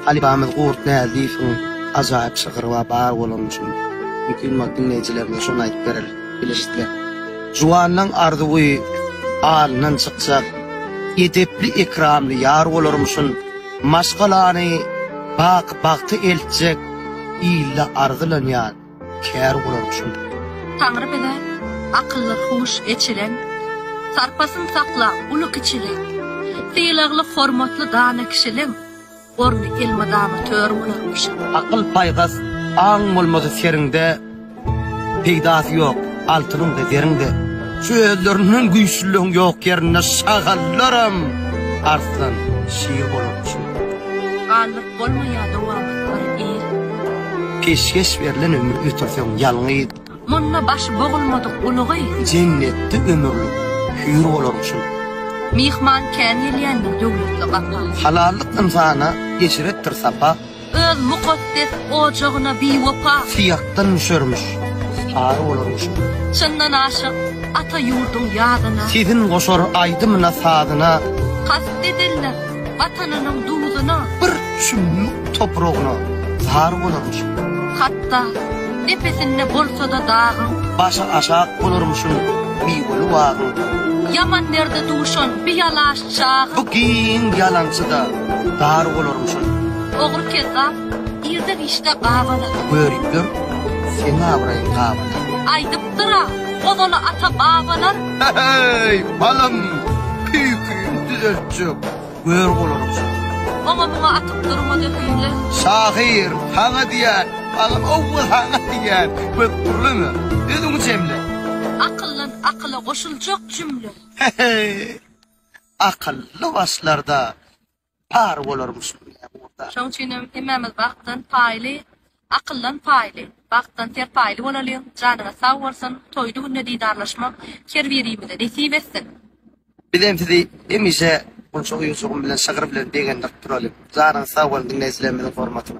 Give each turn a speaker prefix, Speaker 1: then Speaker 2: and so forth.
Speaker 1: Halypamyz Gurt Näzifowyň ajaýyp şygyry bar, bar bolany üçin mümkin bolup diňleýjilerimize şony aýdyp bereris, bilişikler. Juwanyň arzuwy alyndan çykjak, edepli, ekramly ýar bolarmyşyn, maşgalany baky bagta eltjek ýylla arzylanýar. kär gurar şol. Taňry bize
Speaker 2: akylly huş eçilen, Sarpasyn sakla uly-kiçili, Sylagly hormatly dana kişiliň, Orny elmydama tör bolarmyş. Akyl paýhas
Speaker 1: aň bolmasa seriňde, Peýdasy ýok altynyň-da zeriň-de. Şu özlerinden güýçlüligiň ýok ýerinde Şagallaram arslan, şir bolarmyş. Galdyr
Speaker 2: Bolmaýada wagtlar ir.
Speaker 1: Peşgeş berlen ömür ötürseň ýalňyz. Munda başy
Speaker 2: bogulmadyk ulugy. Jennetde
Speaker 1: ömürlik hüýr bolaryn şul. Myhman kän
Speaker 2: gelýändir döwletli gapa. Halallyk ynsana
Speaker 1: eşretdir sapa. Öz mukaddes
Speaker 2: ojagyna biwepa. Syýakdan
Speaker 1: müşermiş sary bolaryn şul. Çyndan aşyk
Speaker 2: ata ýurduň ýadyna. Sezin goşar
Speaker 1: aýdymyna sazyna. Kast
Speaker 2: ederler Watanynyň duzuna. Bir çümmük
Speaker 1: topragyna zar bolarmyşyn. Hatda,
Speaker 2: depesinde bolsa-da dagyň. Başy aşak
Speaker 1: bolarmyşyn miweli bagyň. Ýaman derde
Speaker 2: duşan bi ýalaş çagyň. Bu giň
Speaker 1: ýalançy-da dar bolarmyşyn. Ogry-kezzap,
Speaker 2: irde-giçde gabalar. Görüp ýör,
Speaker 1: seň abraýyň gabalar. Aýdyp.
Speaker 2: Gyra, ozaly
Speaker 1: ata-babalar. He-heý, balam, tüýküňi düzeltjek gör bolança. Oňa-muňa atyp durma
Speaker 2: dökünje. Şahyr,
Speaker 1: saňa diýýän, balam, howwa, saňa diýýän, köp gürleme, özüňi jemle. Akyldan
Speaker 2: akyla goşuljak jümle.
Speaker 1: He-heý, akylly başlarda. Pary bolarmyş bu ýa ugurda. Şoň üçinem
Speaker 2: hemmämiz bagtdan paýly, akyldan paýly, bagtdan serpaýly bolalyň, janyňyz sag bolsun, toýly günde didarlaşmak her birimize nesip etsin! Bizem sizi
Speaker 1: hemişe bolsa oýunçygym bilen şygyr bilen begendirip duralyň. Janyňyz sag bolsun diňleýjilerimiziň hormatyna.